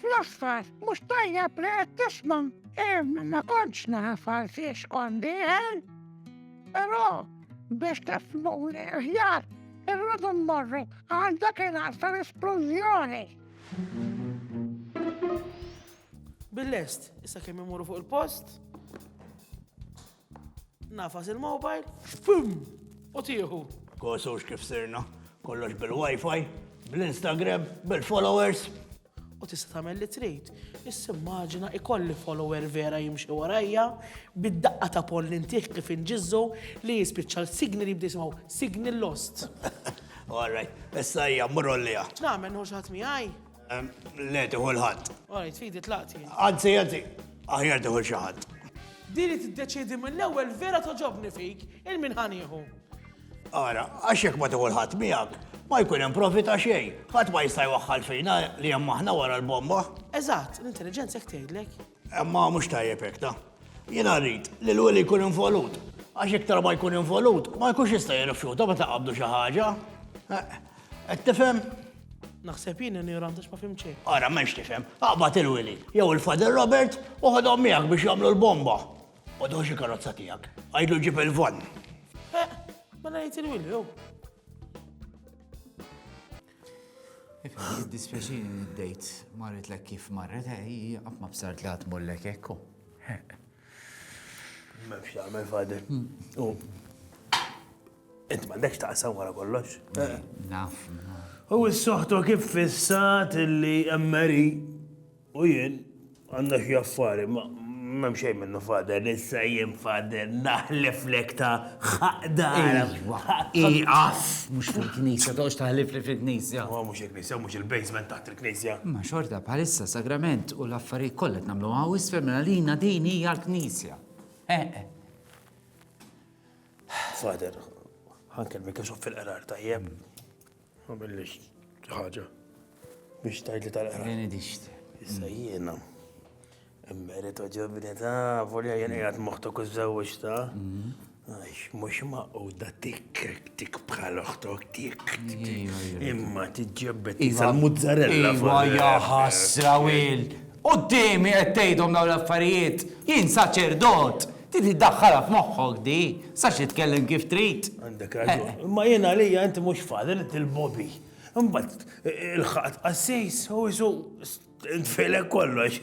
Fl-aħħar, mhux tajjeb li qed tisma'. Hemm ma kontx naf għal fiex kondi, eh? Però biex tifmuni aħjar, irridu mmorru għal dak il-għal tal-esplużjoni. Bil-lest, issa kemm imorru fuq il-post? Nafas il-mobile, xpum, u tieħu. Kosux kif sirna, kollox bil-wifi, bl-Instagram, bil-followers. U tista' tagħmel li trid. Issa immaġina ikolli follower vera jimxi warajja bid-daqqa ta' pol li ntih kif inġizzu li jispiċċa l-signal jibda jisimgħu signal lost. All right, issa hija mmur għolliha. X'nagħmel nħu xi ħadd miegħi? Le, tiħu l-ħadd. Għajt, fidi tlaqt jien. Anzi, anzi, aħjar tiħu xaħat. Diri t-deċidi mill-ewel vera toġobni fik, il-min ħaniħu. Ara, għaxek ma tiħu l-ħadd miegħek, ma jkun hemm profita xejn. Ħadd ma jista' jwaħħal fina li hemm aħna wara l-bomba. Eżatt, l-intelligenza jekk tgħidlek. Imma mhux tajjeb hekk, ta? Jiena rrid li l-weli jkun involut, għax iktar ma jkun involut, ma jkunx jista' jirrifjuta meta nqabbdu xi ħaġa. Qed tifhem? Naħseb jien ignorant għax ma fim xejn. Ara, m'hemmx tifhem. Aqbad il-Willy, jew il-Father Robert, u ħodhom miegħek biex jagħmlu l-bomba. U doħx il-karozza tiegħek. Għidlu ġib il-van. Eh, mela jgħid il-Willy, jew. Ifhem, dispjaċini li d-dejt marritlek kif marret, hi qatt ma bsart li qatt mollek hekk. M'hemmx x'tagħmel fader. U int m'għandekx taqsam wara kollox. Naf. U s-soħtu kif fissat li emmeri U jien għandna xi affari ma m'hemm xejn minnu Father, issa jien Father naħleflek ta' ħaqq darek. Ieqaf! Mhux fil-knisja, toqgħodx taħlifli fil-knisja. Ma mhux il-knisja, mhux il-basement taħt il-knisja. Imma xorta bħalissa s-sagrament u l-affarijiet kollha qed nagħmluhom hawn isfel minn għalina din hija l-knisja. Eħe. Father, ħankellmek għax fil-qrar tajjeb. Ma billix ħaġa. Biex tajt li tal-qra. Jeni dixt. Issa jiena. Merito ġovinita, volja jien jgħat moħtok uż-żewġ ta' għax mux maqoda tik tik bħal oħtok tik imma tiġġebbet iżal mozzarella. Iva jaħasra wil, Quddiemi qed tgħidhom dawn l-affarijiet? Jien saċerdot! Trid iddaħħalha f'moħħok di, tistax titkellem kif trid. Għandek raġun. Imma jien għalija int mhux father, int il-bobby. Imbagħad ilħaqt qassis u isu ntfilek kollox.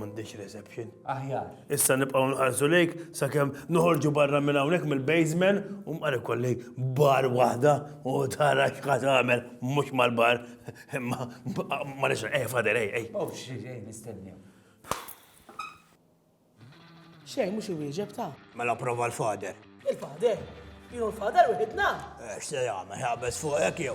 M'għandix reception. Aħjar. Issa nibqgħu nħarsu lejk sakemm noħorġu barra minn hawnhekk mill-basement u mqar ikolli bar waħda u tara x'ħad tagħmel mhux mal-bar imma ma nixra eh fader ej ej. Oh, xi ġej nistennew. Xejn, mhux iwieġeb ta. Mela prova l-Father. Il-Father? Jien u l-Father wieħedna? Eh, x'se jagħmel, ħabes fuq hekk jew?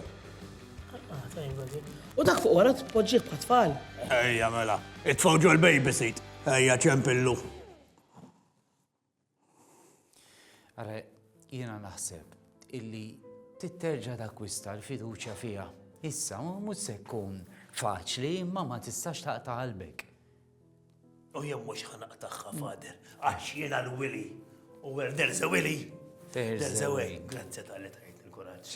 Ah, tajn għadi. U dak fuq wara tpoġġih bħat tfal. Ejja mela, itfgħu ġol babysit. Ejja ċempillu. Ara, jiena naħseb illi titterġa' takkwista l-fiduċja fiha. Issa mhux se jkun faċli imma ma tistax taqta' qalbek. U jien mhux ħanaqtagħha, Father, għax jiena l-wili. U where there's a wili, there's a way. Grazzi tal-li tajt il-kuraġġ.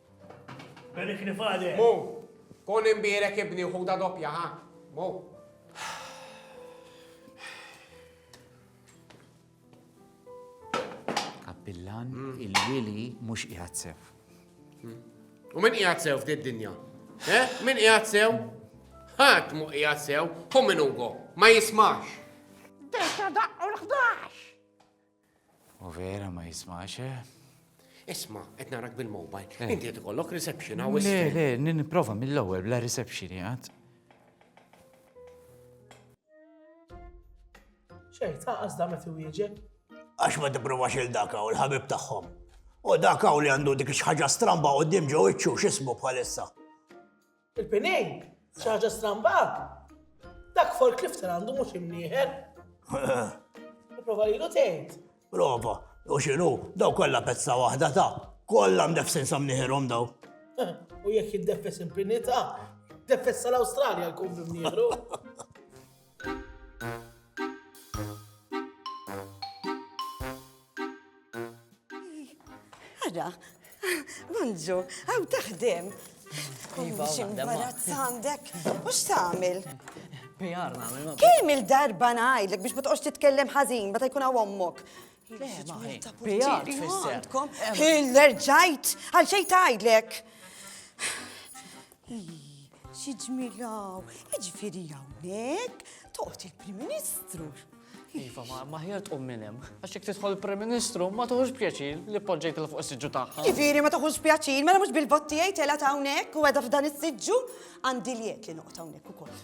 Barikni Father. Mu, kun imbierek ibni u ħuda doppja, ha? Mu. Kappillan, mm. il-wili mhux qiegħed sew. Mm. U min qiegħed sew f'did dinja? Eh? Min qiegħed sew? Ħadd mu qiegħed sew, hu min Ugo, ma jismax. Dejta daqqu l-11! U vera ma jismax, eh? Isma, qed narak bil-mobile. Eh. Inti qed ikollok reception hawn. Le, le, nipprova mill-ewwel bla reception jgħad. Xejn, ta' qasda meta wieġeb. Għax ma tipprovax il daka u l-ħabib tagħhom. U daka u li għandu dik xi ħaġa stramba qudiem ġew iċċu x'ismu bħalissa. Il-pinejn, xi ħaġa stramba. Dak folk lifter għandu mhux imnieħer. Prova lilu tgħid. Prova, u xinu, daw kollha pezza waħda ta' kollha mdefsin sa mnieħerhom daw. U jekk jiddefes impinita, defessa l-Awstralja l-kum bimnieħru. Ara, Manġu, għaw taħdem. Iva, ximbarat għandek, u x'tagħmel? PR nagħmel. Kemm il-darba ngħidlek biex ma toqgħodx titkellem ħażin meta jkun hawn ommok. L-erġajt, għal xej tajdlek. Xi ġmilaw, iġifieri hawnhekk toqgħod il-Prim Ministru. Iva, ma maħjar tqum minn hemm. Għax jekk tidħol il-Prim Ministru ma tuħux pjaċir li poġġejt il fuq is-siġġu tagħha. Ġifieri ma tuħux pjaċir, mela mhux bil-botti jgħid tela' hawnhekk u għedha f'dan is-siġġu għandi liet li noqgħod hawnhekk ukoll.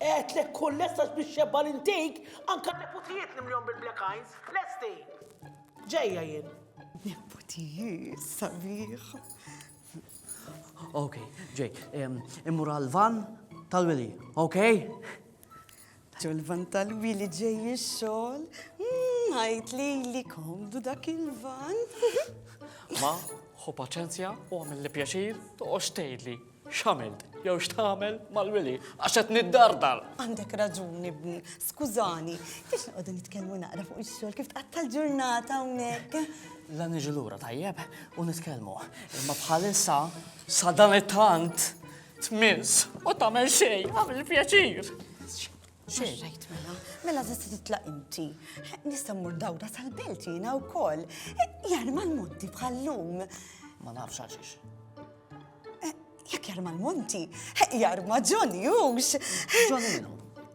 Għedtlek kun lesta biex xebba l-intake anke n-neputijiet nimlihom bil-black eyes. Lesti! Ġejja jien. Neputijiet sabiħ. Okay, ġej, immur għal-van tal-wili, okay? Ġol-van tal-wili ġej ix-xogħol, ħajt hmm, li li komdu dak il-van. Ma, ħu paċenzja u għamil li pjaċir toqgħodx tgħidli. X'għamilt jew x'tagħmel mal-wili għax qed niddardar. Għandek raġuni ibni, skużani, kif noqogħdu nitkellmu naqra fuq ix-xogħol kif tqatta' l-ġurnata hawnhekk. La niġu lura tajjeb u nitkellmu, imma bħalissa sa dan it-tant tmiss u tagħmel xejn għamil pjaċir. Xejn rajt mela, mela tista' titlaq inti. Nista' mmur dawra tal-belt jiena wkoll. Jarma l-monti bħallum. Ma nafx għaxiex. Jekk jarma l-Monti, jarma Johnny Hughes. Johnny minu?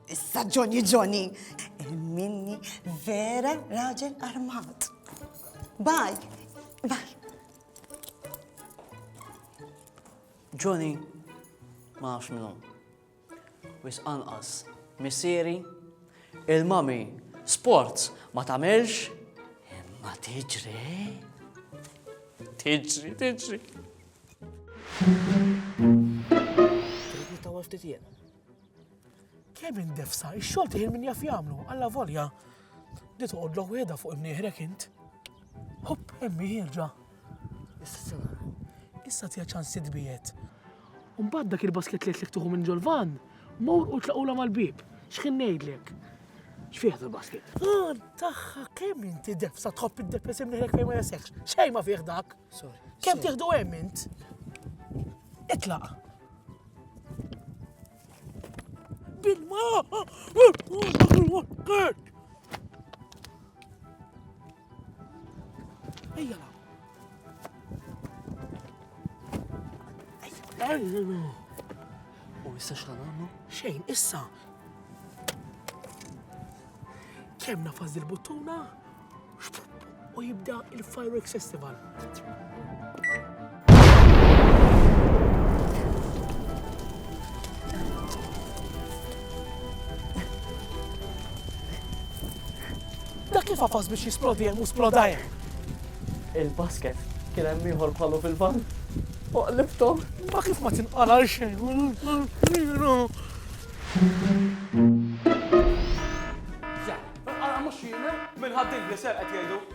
Issa Johnny Johnny. Minni vera raġel armat. Baj, baj. Johnny, ma nafx minnu. Wisq anqas. Missieri, il-mommy sports ma tagħmilx imma tiġri. Tiġri, tiġri. Kemm indefsa, ix-xogħol tiħin min jaf jagħmlu, alla volja. Di toqgħodlu qiegħda fuq imnieħrek int. Hopp, emmi ħirġa. Issa, issa tiha ċans titbiegħed. U mbagħad dak il-basket li għedtlek tieħu minn ġol-vann, mur u tlaqgħulha mal-bieb. X'ħin ngħidlek? X'fih dal-basket? Ah, tagħha kemm inti debsa tħobb id-debes imniħlek fejn ma jasseħx. Xejn ma fih dak. Sorry. Kemm tieħdu hemm int? Itlaq. Bilma! Ejja law. Ejja. U issa x'ħan għamlu? Xejn, issa. Kemm nafas il-buttuna, u jibda il-Fireworks Festival. Dak li fafas biex jisplodi hemm u splodajer. Il-basket kien hemm ieħor bħalu fil-van. Fuq liftom. Ma kif ma tinqala xejn. Mhux jiena, minn ħaddin li ser qed jgħidu.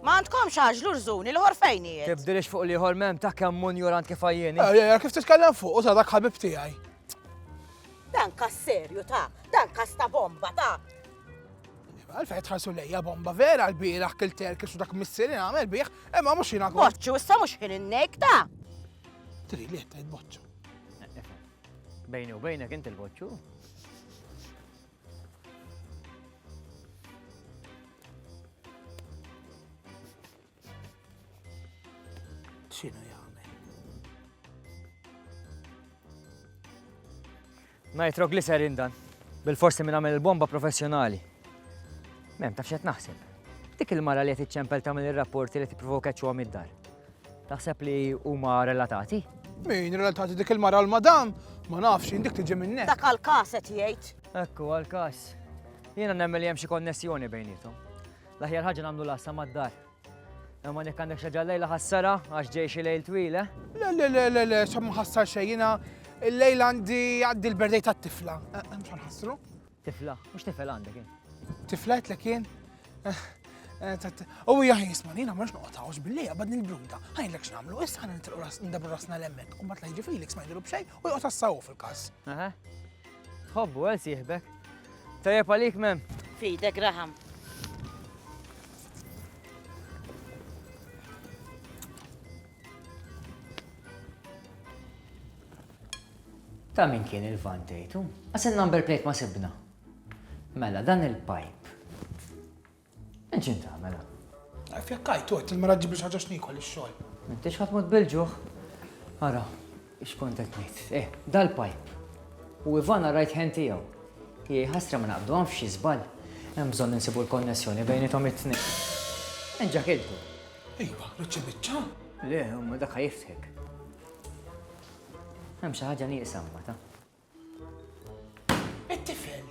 Ma għandkomx għaġlu rżuni l ħor fejn hi. Tibdilix fuq li ħor mem ta' kemm mun jurant kif għajjeni. Eh, eh, eh, kif titkellem fuq u ta' dak ħabib tiegħi. Dan kas serju ta' dan kas ta' bomba ta' Għalfej tħarsu lejja bomba vera l-biraħ kilter kif dak missieri għamel biħ, imma mux jina għu. Boċċu, issa mux jina n-nek ta' Tri li jetta jitboċċu. Bejni u bejnek inti l-boċċu. xinu jgħamil. Nitroglycerin dan. Bil-forsi minn għamil il-bomba professjonali. Mem, taf xet naħseb. Dik il-mara li qed iċċempel tagħmel ir-rapporti li tipprovoka ċuha mid-dar. Taħseb li huma relatati? Min relatati dik il-mara u l-madam? Ma nafx, jien dik tiġi minn hekk. Dak għall-każ qed jgħid. Ekku għall-każ. Jiena nemmen li hemm xi konnessjoni bejnietom. L-aħjar ħaġa nagħmlu lassa mad-dar. Imma jekk għandek xi ġallejla ħassara għax ġej xi lejl twil, eh? Le, le, le, le, le, sa ma ħassar xejn jiena il-lejl għandi għaddi l-berdej tat-tifla. Eh, eh, Mhux ħassru? Tifla, mhux tifel għandek jien. Tifla qed lek jien? U jgħaj jisma nina mux noqtawx billi għabad nil-bruda, għajn l-ek xnamlu, issa għan nitilqu ras ndabu rasna l-emmek, u bat lajġi Felix ma jdilu bxej u jgħot assawu fil-kas. Hobbu, għal siħbek. Tajab għalik mem. Fide, Graham. Ta' min kien il-van tgħidu? Għax in-number plate ma sibna. Mela dan il-pajp. Minn x'int tagħmel? Għarf jekk għajt għedt il-mara ġġib xi ħaġa x'niekol ix-xogħol. M'intix ħadd mod bil-ġuħ. Ara, x'kont qed ngħid. Eh, dal-pajp. U Ivana right hand tiegħu. Hi ħasra ma naqbdu hawn f'xi żball. Hemm bżonn insibu l-konnessjoni bejnietom it-tnejn. Enġa' kiltu. Iva, riċċi biċċa. Le, imma dak ħajiftħek. Hemm xi ħaġa nieqsa mbagħad. It-tifel.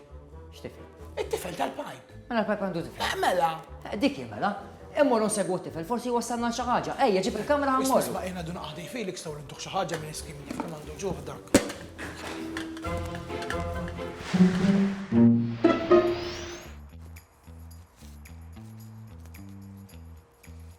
X'tifel? It-tifel tal-pajp. Mela l-pajp għandu tifel. Eh, mela. Eh, dik mela. Immorru nsegwu t-tifel, forsi wassalna xi ħaġa. Ejja, ġib il-kamera ħammor. Isma' jiena dun qaħdi Felix taw l-intuħ xi ħaġa minn iskim kif kemm għandu ġuħ dak.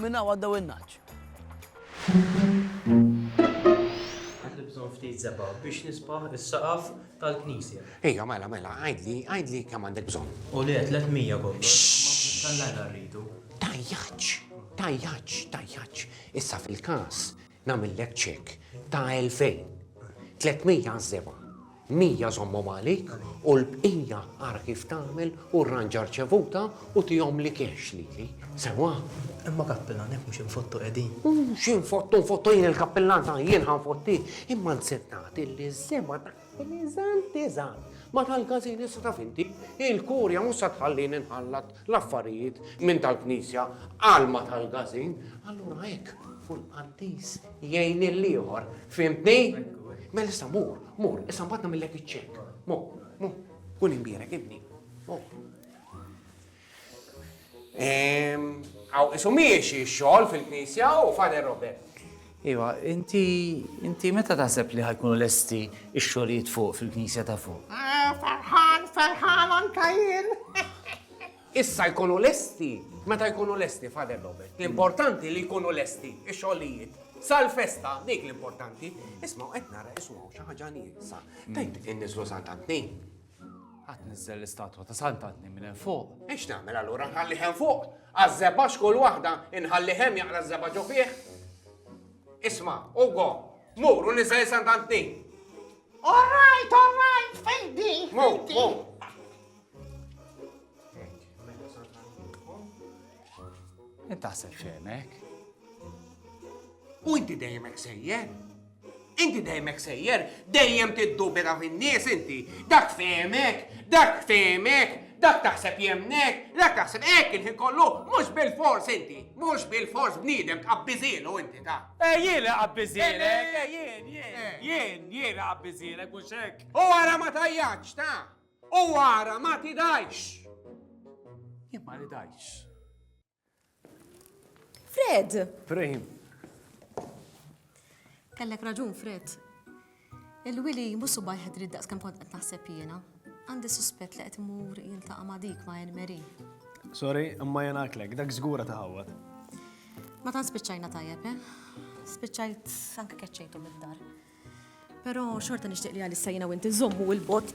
Minn hawn għaddew in-nagħaġ. Għandi bżonn ftit zebgħa biex nisbaħ is-saqaf tal-knisja. Ejja, mela, mela, għidli, għidli kemm għandek bżonn. U le, 300 kollox. Tallajna rridu. Tajjaċ, tajjaċ, tajjaċ. Issa fil-każ Nagħmillek ċekk ta' elfejn. Tlietmija għaż-żebgħa. Mija żommhom għalik u l-bqija ara kif tagħmel u rranġa r-riċevuta u tihomli cash lili. Sewwa? Imma Kappillan, hekk mhux infottu qegħdin. Mhux infottu, nfottu jien il-Kappillan ta' jien ħa nfottih. Imma nsib nagħti li ż-żebgħa ta' Eżatt, eżatt. Ma tal-każin issa taf inti, il-Kurja mhux se tħallini nħallat l-affarijiet minn tal-Knisja għal ma tal-każin, allura hekk fu l-qaddis jgħin lill-ieħor, fhimtni? Mela issa mur, mur, issa mbagħad nagħmillek iċ-ċekk. Mur, mur, kun imbierek ibni. Mur. Għaw, isu miexi xol fil-knisja u Father Robert. Iva, inti, inti meta taħseb li ħajkunu lesti ix-xogħlijiet fuq fil-knisja ta' fuq? Eh, ferħan, ferħan anka jien. Issa jkunu lesti, meta jkunu lesti, Father Robert. L-importanti li jkunu lesti ix-xogħlijiet. Sal-festa, dik l-importanti, isma' qed nara isma' xi ħaġa nieqsa. Tajt inniżlu Santantni. Ħa tniżżel l-istatwa ta' Santa Tnejn minn hemm fuq. E x'nagħmel allura, nħallih hemm fuq? Għaż-żebgħax kull waħda inħallih hemm jaqra ż-żebgħa ġo fih? Isma', Ugo, mur u niżżel Santa Tnejn. All right, all right, fejdi, fejdi. Intaħseb xejnek? U inti dejjem hekk sejjer? Inti dejjem hekk sejjer, dejjem tiddubita fin-nies inti. Dak tfehmek, dak tfehmek, dak taħseb jemmnek, dak taħseb hekk il-ħin kollu, mhux bilfors inti, mhux bilfors bniedem tqabbiżielu inti ta'. Eh jien li qabbiżielek, eh jien, jien, jien, jien li qabbiżielek mhux hekk. U ara ma tajjatx ta', u ara ma tidgħix. Jien ma nidgħix. Fred! Frame. Kellek raġun, Fred. Il-wili musu bajħed rid daqs kem kont qed naħseb jiena. Għandi suspett li qed imur jiltaqa' ma' dik ma' Elmeri. Sorry, imma jena għatlek, dak żgura ta' ħawwad. Ma tan spiċċajna tajjeb, eh? Spiċċajt anke keċċejtu mid-dar. Però xorta nixtieq li għalissa jiena u inti żommu il-bot.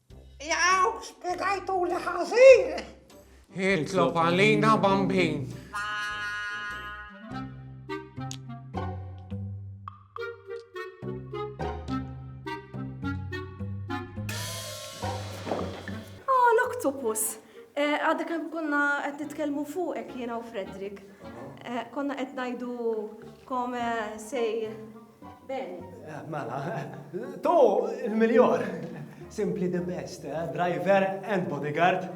Jaw, spiegajtu li ħażin! Hitlob għalina bambin. Octopus. Eh, għadda kem konna qed nitkellmu fuqek jiena u Fredrik. Eh, konna qed ngħidu kome sej Ben. Mela, tu l-miljor. Simply the best, driver and bodyguard.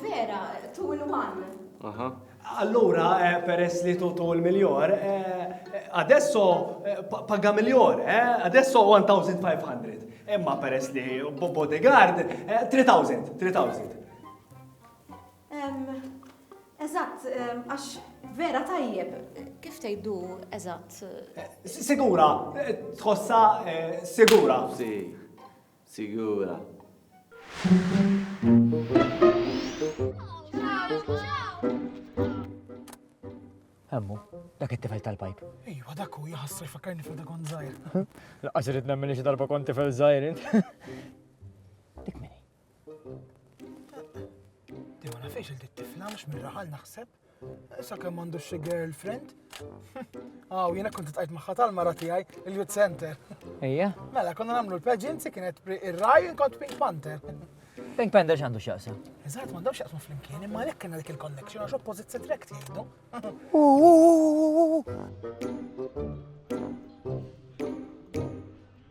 Vera, tu l-one. Aha. Allura, peress li tu tu l-miljor, adesso paga miljor, adesso 1,500. Imma peress li bodyguard, 3,000, 3,000. Eżatt, għax vera tajjeb. Kif tgħidu eżatt? Sigura, tħossha eh, sigura. Si, sigura. Hemmu, dak it-tifel tal-pajp. Ejwa, dak u jħassu jfakkarni fil dakon zaħir. Laqqas irrid nemmen xi darba kont tifel zaħir. Dik minni. Dewa nafiex il-tifla mux mirraħal naħseb. Issa kemm għandu xi girlfriend? Aw, ah, jiena kont tqajt magħha tal-mara tiegħi il-youth center. Ejja. Mela, konna nagħmlu l-pageancy kienet ir-raj kont Pink Panther. Pink Panther x'għandu x'jaqsam? Eżatt, m'għandhomx jaqsmu flimkien, imma għalhekk kienna dik il-connection għax oppożit se trek tgħidu.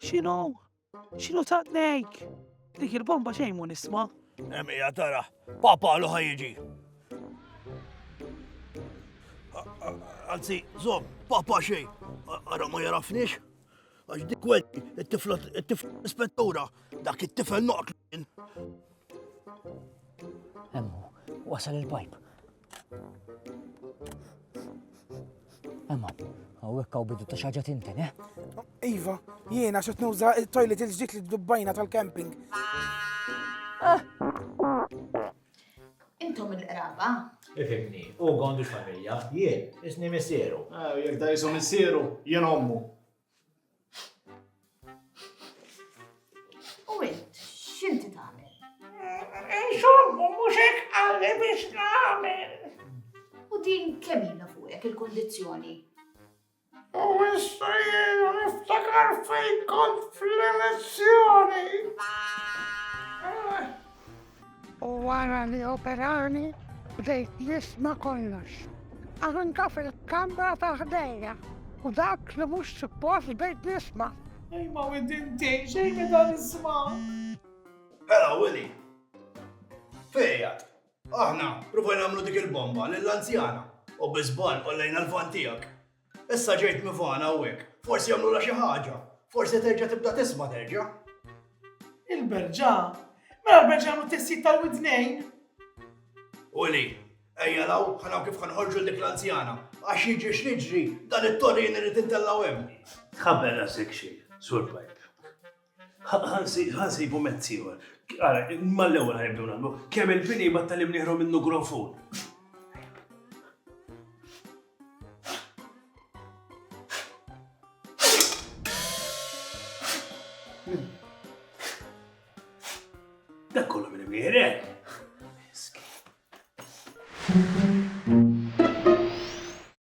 X'inhu? X'inhu taqnejk? Dik il-bomba xejn mu nisma'. Emija tara, papa lu ħajġi. Anzi, zom, papa xej, għara ma jarafnix. Għax dik għed, it-tifla, it-tifla ispettura, dak it-tifel noqt. Emmu, wasal il-pajp. Emma, għawek għaw bidu ta' xaġa tinten, eh? Iva, jiena xet nuża il-toilet il-ġdid li dubbajna tal-camping. Ah. Intom il-qraba? Ifimni, u għandu xamilja, jien, isni missieru. Ah, jek da jisom missieru, jien ommu. U int, x'inti tagħmel? Insomma, mhux hekk qalli biex nagħmel. U din kemm ilha fuqek il-kondizzjoni? U issa jien niftakar fejn kont fl-elezzjoni. U wara li operani, bdejt nisma' kollox. Anke fil-kamra ta' ħdejja u dak li mhux suppost bdejt nisma'. Ej ma widin tgħin xejn meta nisma'. Hela Willy! Fejn qiegħed? Aħna provajna nagħmlu dik il-bomba lill-anzjana u bi żball qollejna l-van tiegħek. Issa ġejt mivana hawnhekk, forsi jagħmlulha xi ħaġa, forsi terġa' tibda tisma' terġa'. Il-berġa? Mela l-berġa jagħmlu testijiet tal-widnejn? Uli, ejja law, ħanaw kif ħanħorġu dik l-anzjana, għax jiġri x'jiġri dan it-torrin irid intellgħu hemm. Tħabber rasek xejn, Sur Pipe. Ħa nsibu mezz ieħor. Ara, mal-ewwel ħa nibdew nagħmlu. Kemm il-pini jbattal li bnieħru minnu gronfun.